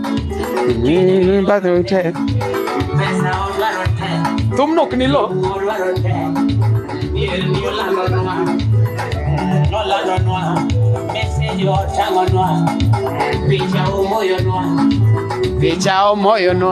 Mm, but we take. Thum nok ni lo. Picha o moyo no.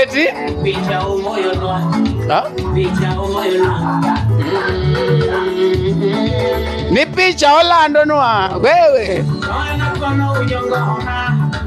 Eti? Ha? Ni picha olandonwa wewe.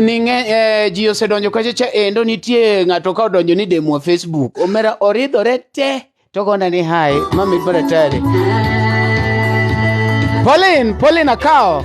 ni ng'eny eh, ji osedonjo kacha cha endo nitie ng'ato ka odonjo ni demwa facebook omera oridhore te to gona ni hai mamit maratari polin polin akawo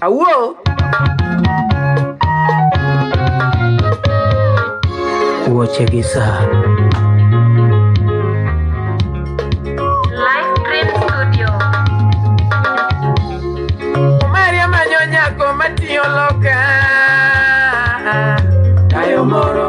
Awuo! Wuoche gi saa. Live Dream Studio. Maria manyo nyako matiyo loka. Tayo moro.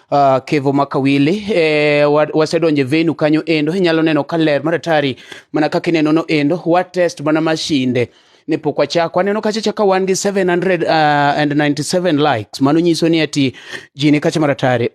uh, kevo makawili e, wa- wasedonje venu kanyo endo inyalo neno ka ler maratari mana kaka ineno no endo watest mana mashinde ne pok wachako aneno kachacha ka wan gi 797 likes mano nyiso ni ati ji ni kacha maratari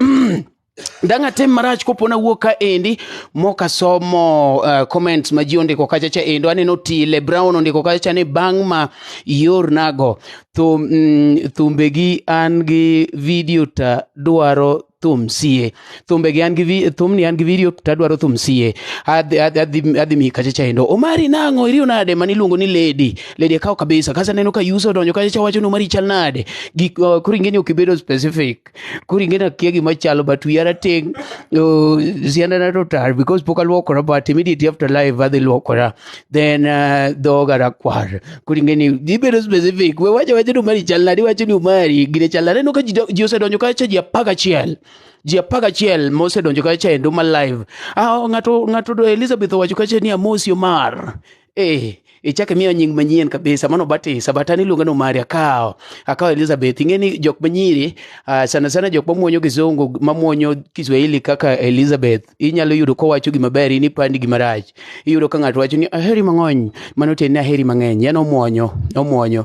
dang' atem marach kopo nawuok ka endi mok asomo uh, comments ma ji ondiko kachacha endo aneno tile brown ondiko kachacha ni bang' ma iornago thum mm, thumbegi an gi video ta dwaro thum sie thumbegi an gi vi- thumni an gi video ta dwaro thum sie adhi adhi- adhi- adhi mi kacha chaendo omari nang'o iriyo nade mani iluongo ni lady lady akawo kabisa kasa neno ka yuso odonjo kacha cha wacho ni omari chal nade gik uh, koro ingeni ok ibedo specific koro ing'e nakia gima chalo but wiya rateng' oh, siandana to tar because pok aluokora but immediately after live adhi luokora then uh, dhoga rakwar koro ing'e ni ibedo specific we wacha wacha ni umari chal nadi wacho ni umari gine chal nadi aneno ka ji do- ji osedonjo kacha ji apar gachiel ji apar gachiel mosedonjo kacha endo ma live ah, ng'ato ng'ato do elizabeth owacho kacha ni amosi omar eh ichak imiya nying manyien kabisa mano batisa but an iluonga ni omari akawo akawo elizabeth ing'e ni jok manyiri uh, sana sana jok mamuonyo kizungu mamuonyo kiswahili kaka elizabeth inyalo yudo kowacho gima ber in ipandi gima rach iyudo ka ng'ato wacho ni aheri mang'ony mano tiende ni aheri mang'eny en omuonyo omuonyo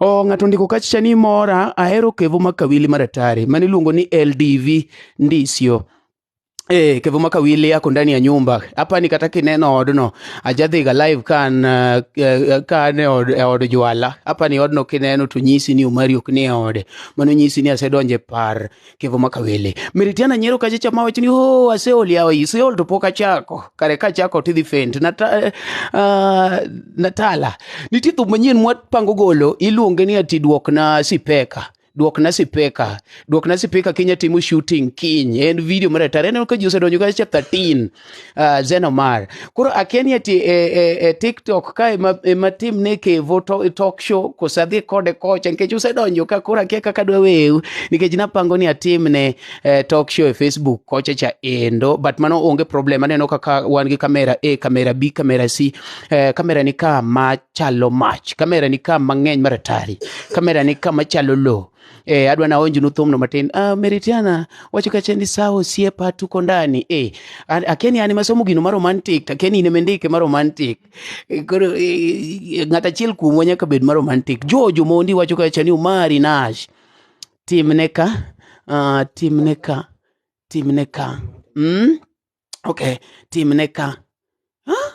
O, ng'ato ndiko kacha ni mora ahero kevo makawili maratari mane iluongo ni LDV ndisio Eh, kevo makawili yako ndani ya nyumba hapa ni kata kineno odno ajadhiga live kan uh, uh, kan e od, e od jwala hapa ni odno kineno to nyisi ni omari ok ni e ode mano nyisi ni asedonje par kevo makawele meritiana nyiero kacha cha mawach ni oh aseol yawa iseol to pok achako kare kachako tidhi fent Nata, uh, natala nitie thum manyien mwapango golo iluonge ni ati duokna sipeka duokna sipeka duokna sipeka kenya timo shooting kiny en video maratara aneno ka ji osedonjo kacha 13 Uh, Zenomar. Koro akeni ati e, e, e TikTok ka ema, ema tim ne kevo to, e talk show kosa dhi kode kocha nikech usedonjo ka koro akia kaka dwa weu nikech napango ni atim ne eh, talk show e Facebook kocha cha endo but mano onge problem aneno kaka wan gi kamera A, kamera B, kamera C. Eh, kamera ni ka ma chalo mach, kamera ni ka mang'eny maratari, kamera ni ka machalo lowo. Eh, adwa naonjnu thumno matin. Uh, Meritiana wacho kacha ni sawa osiepa tuko ndani. Eh, akeni an masomo gino ma romantic, akeni in mendike ma romantic. Eh, koro eh, ng'at achiel kuomwa nyaka bed ma romantic. Jojo mondi wacho kacha ni Umari Nash. Timne ka, uh, timne ka, timne ka. Mm? okay timne ka huh?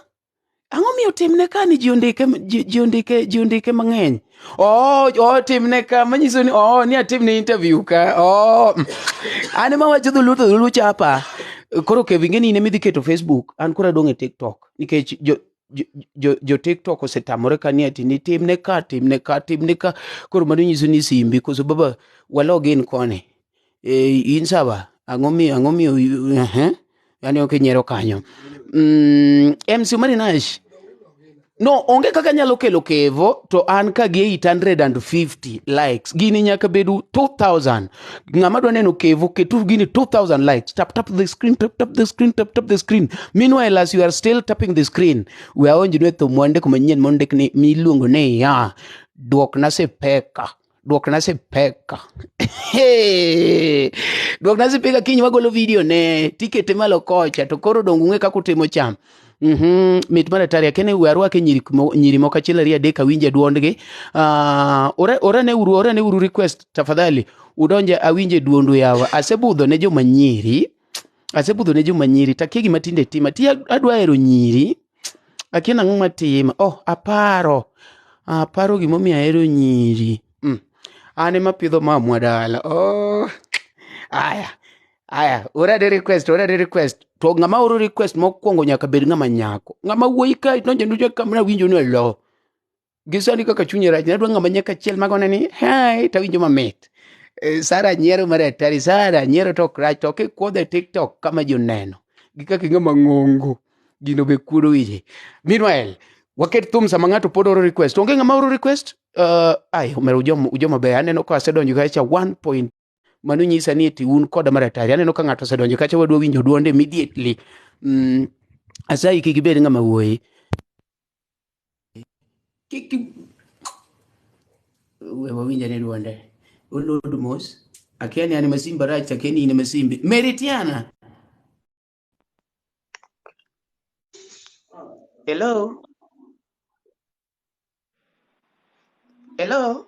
ang'o miyo timne ka ni ji ondike ji ondike ji ondike mang'eny oh, oh timne ka manyiso ni oh ni atimne interview ka oh an ema wacho dholuo to dholuo chapa koro kevinge ni in emidhi keto facebook an koro adong' e tiktok nikech jo jo tiktok osetamore ka ni ati ni timne ka timne ka timne ka koro mano nyiso ni simbi koso baba walog in koni eh, in sawa ang'o miyo ang'o miyo ehe yani ok inyiero kanyo mm, MC Omari Nash no onge kaka nyalo kelo kevo to an ka gi 850 likes gini nyaka bedu 2000 ng'ama dwa neno kevo ketu gini 2000 likes tap tap the screen tap tap the screen tap tap the screen meanwhile as you are still tapping the screen we aonjnu e thum wande kuma nyien mondik ni miluongo ni ya duokna sipeka duok na sipeka duok na sipeka kiny wagolo video ne tikete malo kocha to koro dongo ung'e kaka utimo cham Mhm, mit mar atari akene we arwake nyiri mo- nyiri moko achiel ariyo adek awinje duondgi Ah, ore ore ne uru ore ne uru request tafadhali udonje awinje duondu yawa asebudho ne joma nyiri asebudho ne joma nyiri takia gima tinde tima ti adwa hero nyiri akia nang'o matima oh aparo aparo gimomiyo ahero nyiri mm. an ema pidho mamwa dala oh. aya aya orade request orade request to ng'ama oro request mokwongo nyaka bed ng'ama nyako ng'ama wuoyi ka nonjenu kamna winjo ni olo gisani kaka chunye rach nadwa ng'ama nyaka chiel magone ni hai tawinjo mamit Eh, sara nyiero mar atari sara nyiero tok rach to kikwodhe tiktok kama joneno gi kaka ing'ama ng'ongo gino be kuodo wiye meanwhile waket thum sama ng'ato pod oro request onge ng'ama oro request uh, ai omera ujoma ujoma be aneno ka asedonjo kacha 1 point mano nyisa ni eti un koda mar atari aneno ka ng'ato osedonjo kacha wadwa winjo duonde immediately mm, asayi kik ibed ng'ama wuoyi Kik we wawinja ne duonde. Olodu mos. Akia ni an ema simba rach, akia ni in ema simbi. Meritiana. Hello. Hello.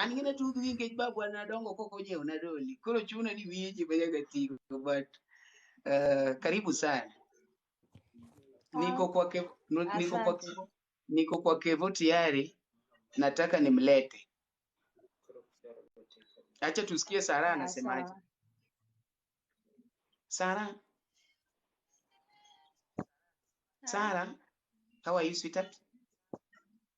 an gina tudh gi nikech babu an nadongo kok onyiewo na doli koro chuno ni wiye ji majaga tigo but uh, karibu sana niko kwa kevo, niko kwa kevo, niko kwa kevo tayari nataka nimlete acha tusikie sara anasemaje sara sara how are you sweetheart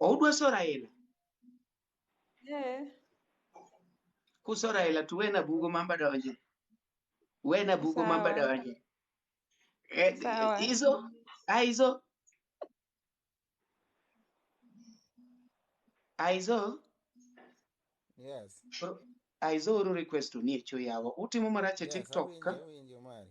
Oudwa so Raila? Eh. Kuso Raila to wena bugo mamba donje. Wena bugo Sawa. mamba donje. Eh, Sawa. Izo, Aizo. Aizo, Yes. Aizo uru request ni echo yawa. Utimo marache Yes, TikTok ka? awinjo, awinjo mari.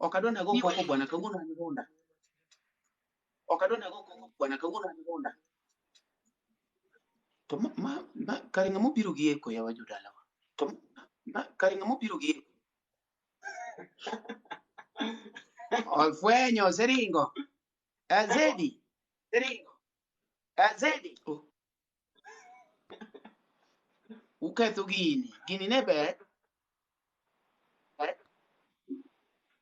Ok adwa nago koko bwana kawuono an gunda. Ok adwa nago koko bwana kawuono an gunda. To ma, ma, ma kare ng'ama obiro gi eko yawa jodalawa. To ma, ma kare ng'ama obiro gi eko. Ofwenyo seringo. Azedi. Seringo. Azedi. Oh, Uketho gini. Gini ne ber.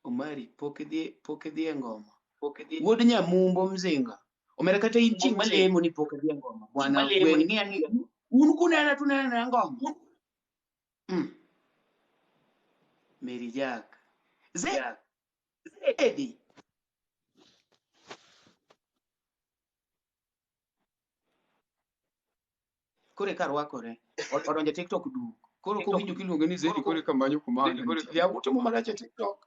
Omari, pok idhi pok idhi e ngoma. Pok idhi. Wuod Nyamumbo Mzinga. Omera kata in chieng' malemo ni pok idhi e ngoma. Bwana wen ng'i ang'i. Un kunena tunena ngoma. Mm. Mary Jack. Zed. Zedi. koro eka rwakore O- odonjo e tiktok du koro kowinjo kiluonge ni zedi koro eka manyo kuma ya utimo marach e tiktok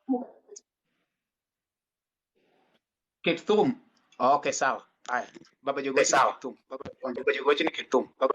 ket thum okay sawa haya baba jogo Eh, sawa. thum baba jogo ni ket thum baba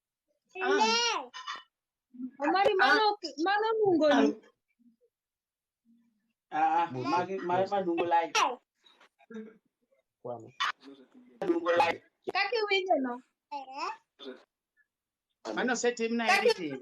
Omari mano mano nungo ni. Ah, magi magi madungo lai. Kwani. Madungo lai. Kaki winjo no. Mano setim na editing.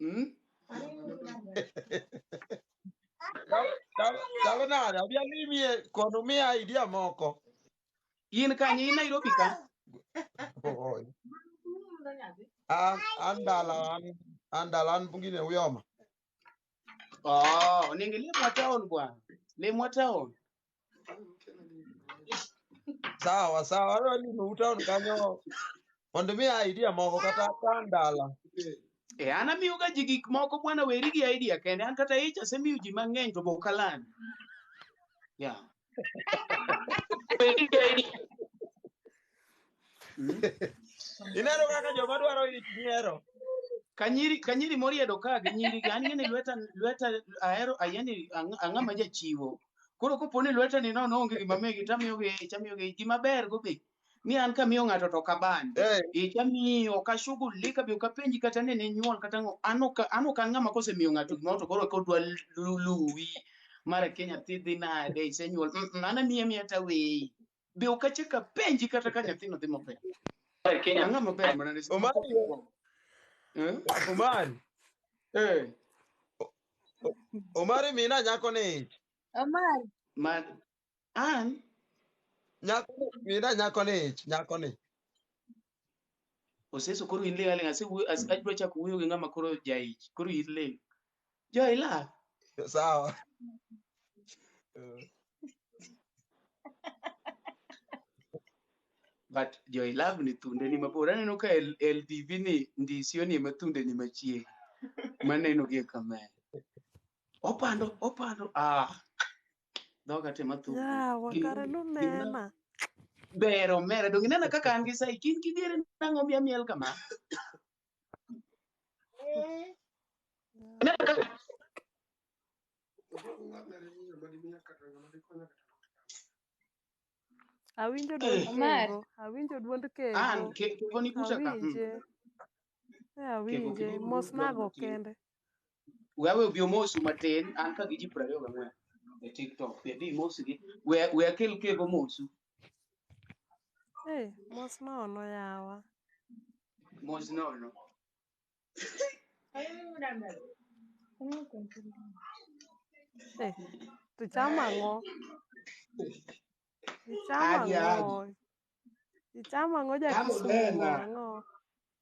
Hmm? Chalo nade? Abi alimie kono miya idea moko. In kanye in Nairobi ka? Oy. An an dala an an dala an pungine uyoma. Oh, ningelia mwa town bwana. Le mwa town. sawa sawa ano ni no town kanyo mondo mi idea moko kata ka ndala E, an amiyoga ji gik moko bwana weri gi idea kende an kata ich asemiyo ji mang'eny to bok aland yeah. Weri gi idea. Mm. Ineno kaka joma dwaro ich nyiero. Kanyiri kanyiri moriedo ka gi nyiri gi an ng'eni lweta lweta ahero ayeni ang- ang'a ma jachiwo. Koro kopo ni lweta ni nono onge gima megi tamiyo gi ich amiyo gi ich gima ber go be ni an kamiyo ng'ato to kaban. Eh, Ich amiyo ok ashughulika be ok apenji kata ni ninyuol kata ng'o an ok an ok an ng'ama kosemiyo ng'ato gimoro to koro kodwa lu- luwi mara ke nyathi dhi nade isenyuol Mm, mm, an amiye amiya taweyi. be ok achak apenji kata ka nyathino dhi maber ang'a maber mana ne Omari, Eh? Omari, Eh, Omari mina nyako ni ich. Omar, ma an Nyako ni mina nyako ni ich, nyako ni. Oseso koro in ling' aling' asewuoyo as- adwa chako wuoyo gi ng'ama koro jaich. Koro in ling'. Jo ila. Sawa. But jo ilove ni thunde ni mabor. Aneno ka L- LDV ni ndisio ni ema thunde ni machiegni. Maneno gi e kamera. Opando, opando. Ah. dhoga te mathuku yawa Gin- kare gin- lunena ber omera donge inena kaka an gi sai kin kidhiere nang'o miya miel kama inena kaka awinjo duond Eh. Omar. kego awinjo duond kego an ke- keko ni kucha ka mm. awinje e awinje kiko mosnago kendo kende wewe obi omosu matin an ka gi ji piero ariyo gang'wen e tiktok be bi imosugi we we akel kek omosu Hey, mos nono yawa. mos nono Hey, to chamo ang'o? Ichamo Agi, agi. ang'o? Ichamo ang'o ja Chamo Kisumu tena. ang'o?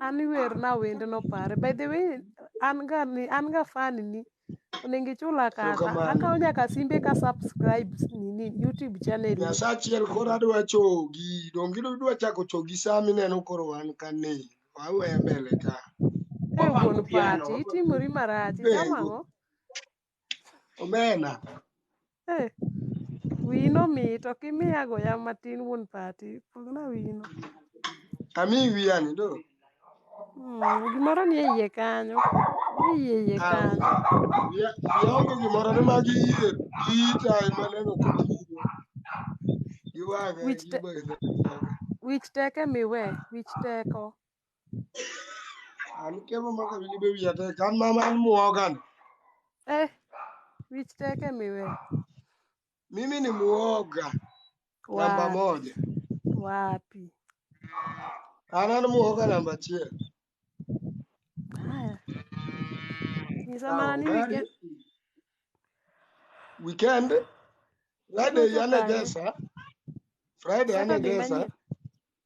An iwerna wendno pare. By the way, an ga ni an ga fan ni onego ichula kata Erokamano. akawo nyaka simbe ka subscribe nini YouTube channel. ni. Nyasaye achiel koro adwa chogi, donge idwa chako chogi saa mineno koro wan ka ni. Wawe mbele ka. Eh wuon pati itimori marach Pengo. itamo ang'o? omena Eh, wino mit ok imiya goya matin wuon pati pogna wino ami wiyani do Mm, gimoro nie iye kanyo nie iye iye Ah, kanyo wiya wiya onge gimoro ni magi yie ita ema neno ka tiyo gi wang'a wich gi te, bathe wich teke miwe wich teko Ani kema maka bili be wiya tek. An mama an muogan. Eh, wich tek e miwe. Mimi ni muoga. Namba Wapi? moja. Wapi? An an muoga namba achiel. Haya. Nyisa Sawa, mana ni gari. weekend. Weekend. Friday Weekend ukae. anegesa. Friday Sasa gima anegesa. nyie.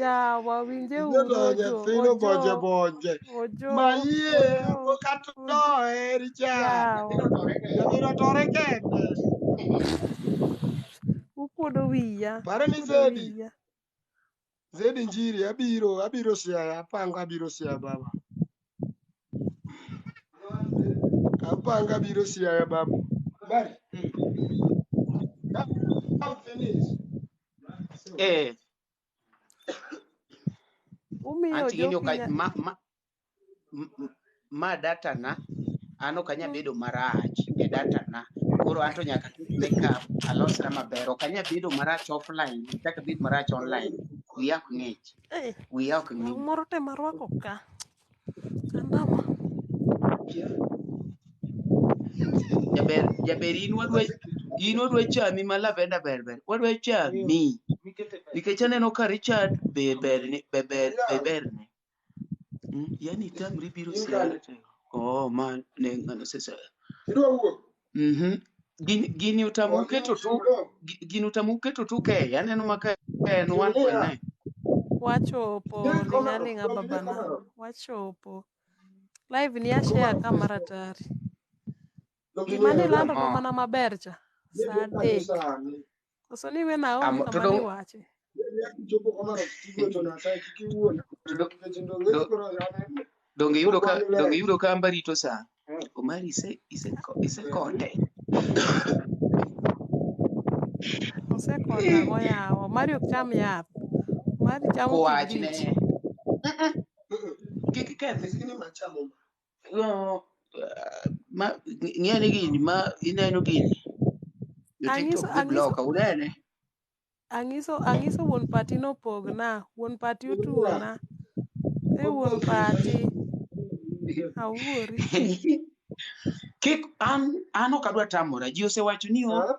Yawa winje uru Idonjo ojo. thino bonje Ojo. bonje. Ojo. Mayie Ojo. kata noheri cha. Yawa. Nyathino tore kende. Ukuodo wiya. Pare ni Ukuodo Zedi. wiya. Zedi Njiri abiro abiro siaya apango abiro siaya baba. Apango abiro siaya baba. Bari. Come finish. Eh. Umiyo Anti gini ok jopinya. ma, ma, m- m- ma data na an ok anya bedo marach e data na koro an to nyaka ket makeup alosra maber ok anya bedo marach offline kaka bed marach online wiya ok ng'ich Eh, wiya ok ng'ich moro tema rwako ka. Jaber, jaber in wadwa in wadwa chami ma lavenda ber ber. Wadwa chami. Nikech aneno ka Richard be ber ni be ber be ber ni. Mm, Yani tamri biro siala. Oh, man ne ngano sesa. Mhm. Gini, gini utamo uketo tu gi- gini utamo uketo tu keye aneno ma ka en 1.9 Wachopo ling'a ling'a babana. Wachopo. Live ni ashare ka mara tari. Gima nilando ma Oh. mana maber cha. Saa adek. Koso ni we Naomi Amo- to kama dong- niwache. donge yudo ka donge yudo ka amba rito saa omari ise ise ise konde Osekonda go yawo. Mari ok cham yath. Mari chamo kowachne kibrit. kik iketh Yo, ah, ma ng'eni gini ma ineno gini jo Anyiso- TikTok gi anyiso- bloka unene Anyiso anyiso wuon pati nopogna. Wuon pati otuona. E wuon pati. Awuori. kik an an ok adwa tamora ji osewacho ni o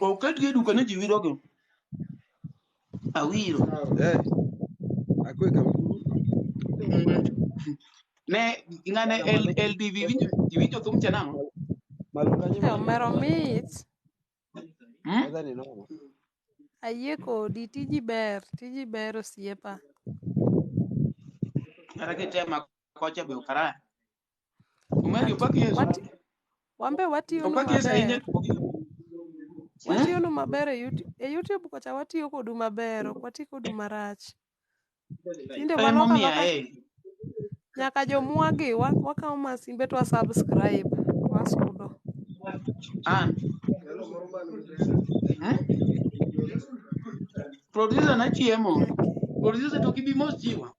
Oketgi e duka ni ji wirogi. Awiro. Eh. Akwe ka Ne ng'ane L- LDV winjo iwinjo thum cha nang'o? malo kanyo Eh, omero mit. Hmm? Mother ni nono. Ayie kodi, tiji ber, tiji ber osiepa. Kata kitema kocha be okara. Omari opak Yesu. Wati, wambe watiyonu Opak Yesu ahinya. maber. Watiyonu maber e YouTube, e YouTube kocha watiyo kodu maber, ok wati kodu marach. Tinde Ema waloko omiya aloka eh. nyaka jomwagi wa- wakawo masimbe to wa subscribe to wasudo. Ah. Eh? Producer na chiemo. Producer to gibi mos chiwa.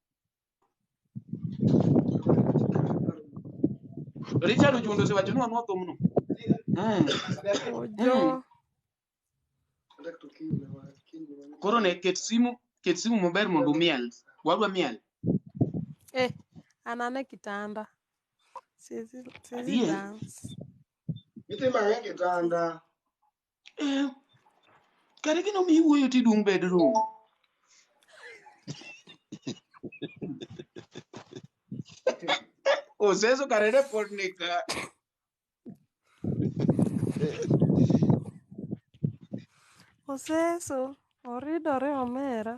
Richard Ojundo osewacho ni wanwa thumno. Mm. Ojo. Koro ne ket simu, ket simu maber mondo umiel. Wadwa miel. Eh, anane kitanda. Siwezi siwezi Adier. dance. Itema ng'e kitanda. Eh, kare gino mi iwuoyo ti dung' bedroom. Oseso kare ne pod nika. Oseso, oridore omera.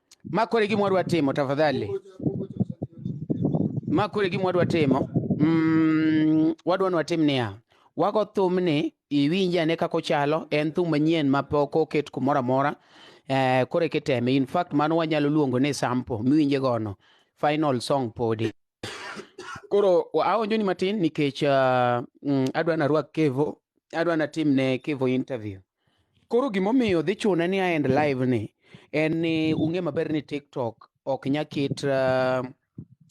Makore gima wadwa timo tafadhali. Makore gima wadwa timo. Mm, wadwa ni watim niya. Wago thumni iwinje ane kaka ochalo en thum manyien ma pok oket kumoro amora. Eh, koro kiteme. In fact mano wanyalo luongo ni sample miwinje gono. Final song podi. Koro wa- aonjo ni matin nikech uh, mm, adwa narwak Kevo, adwa natim ne Kevo interview. Koro gimomiyo dhi chune ni aend live ni en ni ung'e maber ni TikTok ok nya ket uh,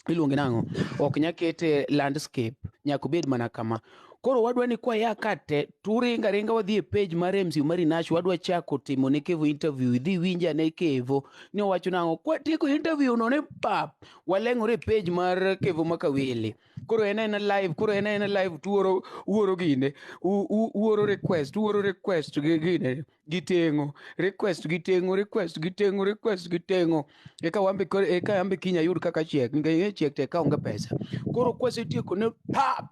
iluonge nang'o ok nya ket eh, landscape nyaka obed mana kama koro wadwa ni kwaya ka te turinga ringa wadhi e page mar MC Umari Nash wadwa chako timo ne Kevo interview idhi winja ne Kevo ni owacho nang'o kwatieko interview no ne pap waleng'ore e page mar Kevo Makawili koro en en live koro en en live tuoro uoro gine u- u- uoro request uoro request gi gine gitengo request gitengo request gitengo request gitengo eka wambe koro eka yambe kinya yud kaka chiek ngeye chiek te ka onge pesa koro kwasetieko ne pa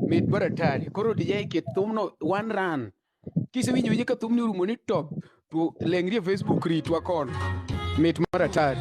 mit baratari koro dijai kithumno one run Kisewinjo winje ka thumni orumo ni top to lengri e Facebook ritwa kono. Mit mar atari.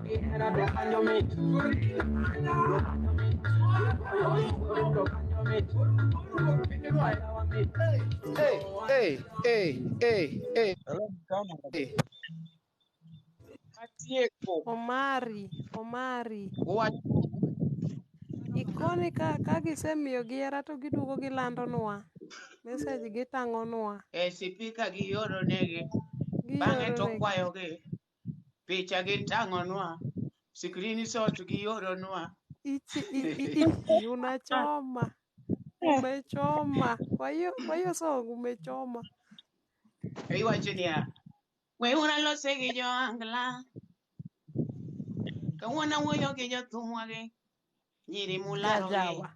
Hey, hey, hey, hey, hey. Atieko. Omari, Omari. Wach. Ikoni ka, ka gisemiyo gi hera to giduogo gilandonwa. Message gitang'onwa. E sipika gioro negi. Bang'e to Gioro negi. kwayogi. picha gi tang'onwa screen shot gi oronwa Ichi, i, i, i, i, unachoma umechoma kwa hiyo kwa hiyo song umechoma iwacho niya we ura lose gi jo angla kawuono awuoyo gi jothumwa gi nyiri mularogi jajawa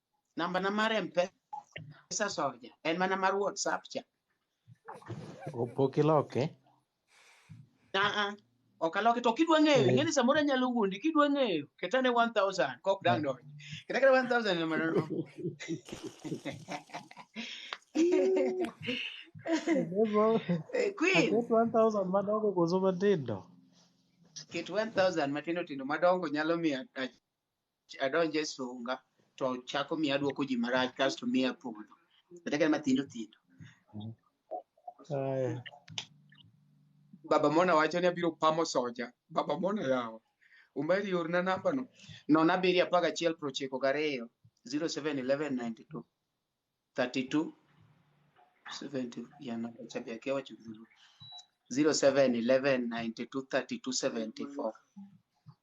namba na mar mpesa soja en mana mar whatsapp cha Opok iloke. aa ok aloke to kidwa ng'eyo ing'e ni samoro anyalo wuondi kidwa ng'eyo ketane 1000 kok dang donj keta kata 1000 ema nono Eh, queen Aket 1000 madongo koso matindo. ket 1000 matindo tindo madongo nyalo miyo adonje e sunga to chako miyo aduoko ji marach kasto miya podho kata ka matindo tindo Aya. baba mona wacho ni abiro pamo soja baba mona yawa umeri orna namba no nono abiriyo apar gachiel prochiko gariyo zero seven eleven ninety two thirty two seventy yana chabi yake wacho dhulu zero seven eleven ninety two thirty two seventy four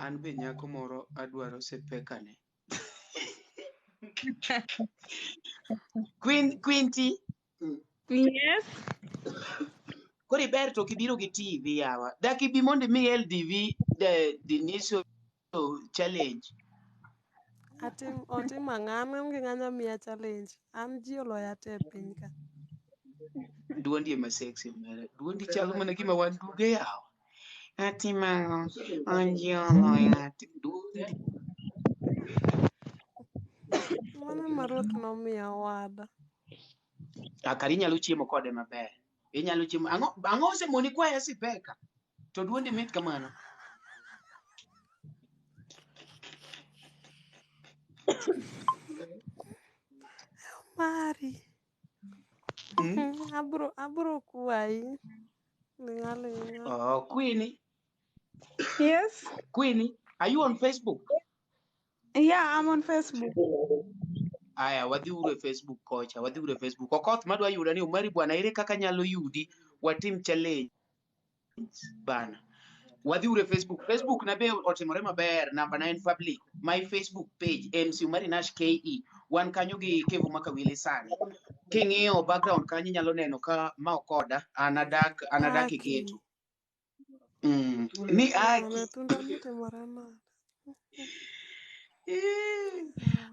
An be nyako moro adwaro sepekane. Queen Quinty. Yes. Kori ber to kibiro gi TV yawa. Daki bi mondo mi LDV the the initial challenge. Atim otim ang'o? An onge ng'ama miya challenge. An ji oloya te e piny ka. Duondi ema sexy omera. Duondi chalo mana gima wan duge yawa. Atim ang'o? An ji oloya te. Duondi. Mano ma Ruth nomiyo owada. Akari nyalo chiemo kode maber. Inyalo chiemo. Ang'o ang'o osemoni kwaya sipeka? To duondi mit kamano. Mari. Mm? Abro abro kwayi. Ning'alo ing'alo. Oh, Queenie, Yes. Queenie, are you on Facebook? Yeah, I'm on Facebook. Aya, wadhi uru e Facebook kocha, wadhi uru e Facebook. Okoth madwa yuda ni Omari bwana, ere kaka nyalo yudi watim challenge bana. Wadhi uru e Facebook. Facebook na be otimore maber, namba na en public. My Facebook page MC Omari Nash KE. Wan kanyo gi Kevo Makawili sani. King'iyo background kanyo inyalo neno ka ma okoda, anadak, anadak e Okay. geto. Mm, ni Wana haki wanatunda mti mara nane. Eh,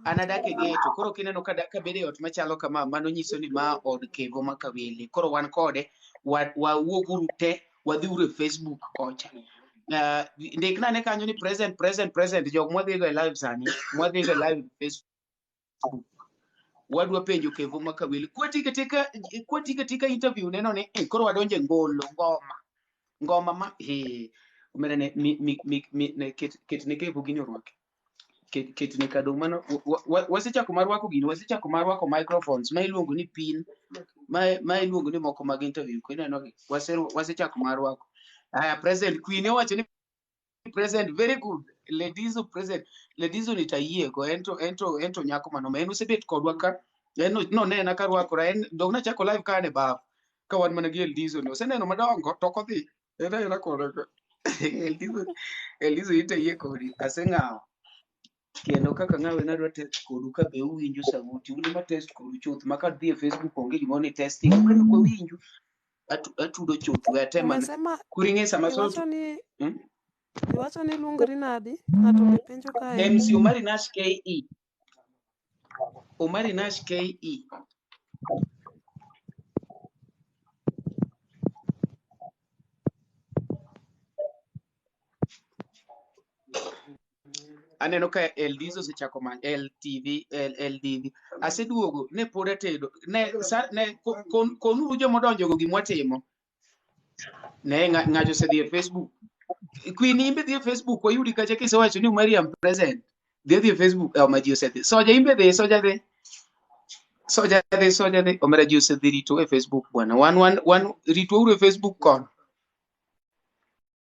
an adak e geto koro kineno ka da- ka bedo e ot machalo kama mano nyiso ni ma od kevo ma kawili koro wan kode wa- wawuoguru te wadhiuru e facebook kocha Ah, ndikna ne kanyo ni present present present jok mwadhigo e live sani mwadhigo e live e facebook wadwa penjo kevo ma kawili kwati katika kwati katika interview neno ni eh, koro wadonje ngolo ngoma ngoma ma he umene ne mi mi mi, mi ne ket ket ne kevo gini orwake ket ket ne kado mano wa- wa- wasechako mar rwako gini wasechako mar rwako microphones ma iluongo ni pin ma ma iluongo ni moko mag interview ko ineno gi Wase- wasechako mar rwako haya president queen owacho ni present very good ladies who present ladies nitayiego ento ento ento nyako manoma en osebet kodwa ka en no- nonena ka rwakora en dog nachako live ka an e baf ka wan mana gi eldizo ni oseneno madongo to ok odhi en ayena kode ka eldizo eldizo itayie kodi aseng'awo kendo kaka ng'awe nadwa test kodu ka be uwinjo sauti un ema test kodu chuth ma ka dhi e facebook onge gimoro ni testing koro kwa winju atu- atudo chuth we atem mana Umesema koro ing'e sama so iwacho ni hmm? iwacho ni luongri nadi? Ng'ato be penjo kae. MC Omari Nash KE Omari Nash KE aneno ka LDs osechako manyo LTV LDV aseduogo ne pod atedo ne sa, ne ko- kon- konuru joma odonjo go gimwa timo ne nga- ng'ato osedhi e Facebook Queen imbe dhi e Facebook wayudi kacha kisewacho ni Mariam present dhi dhi e Facebook eh, ma ji osedhi soja imbe dhi soja dhi soja dhi soja dhi omera ji osedhi rito e Facebook bwana wan wan wan rito uru e Facebook kon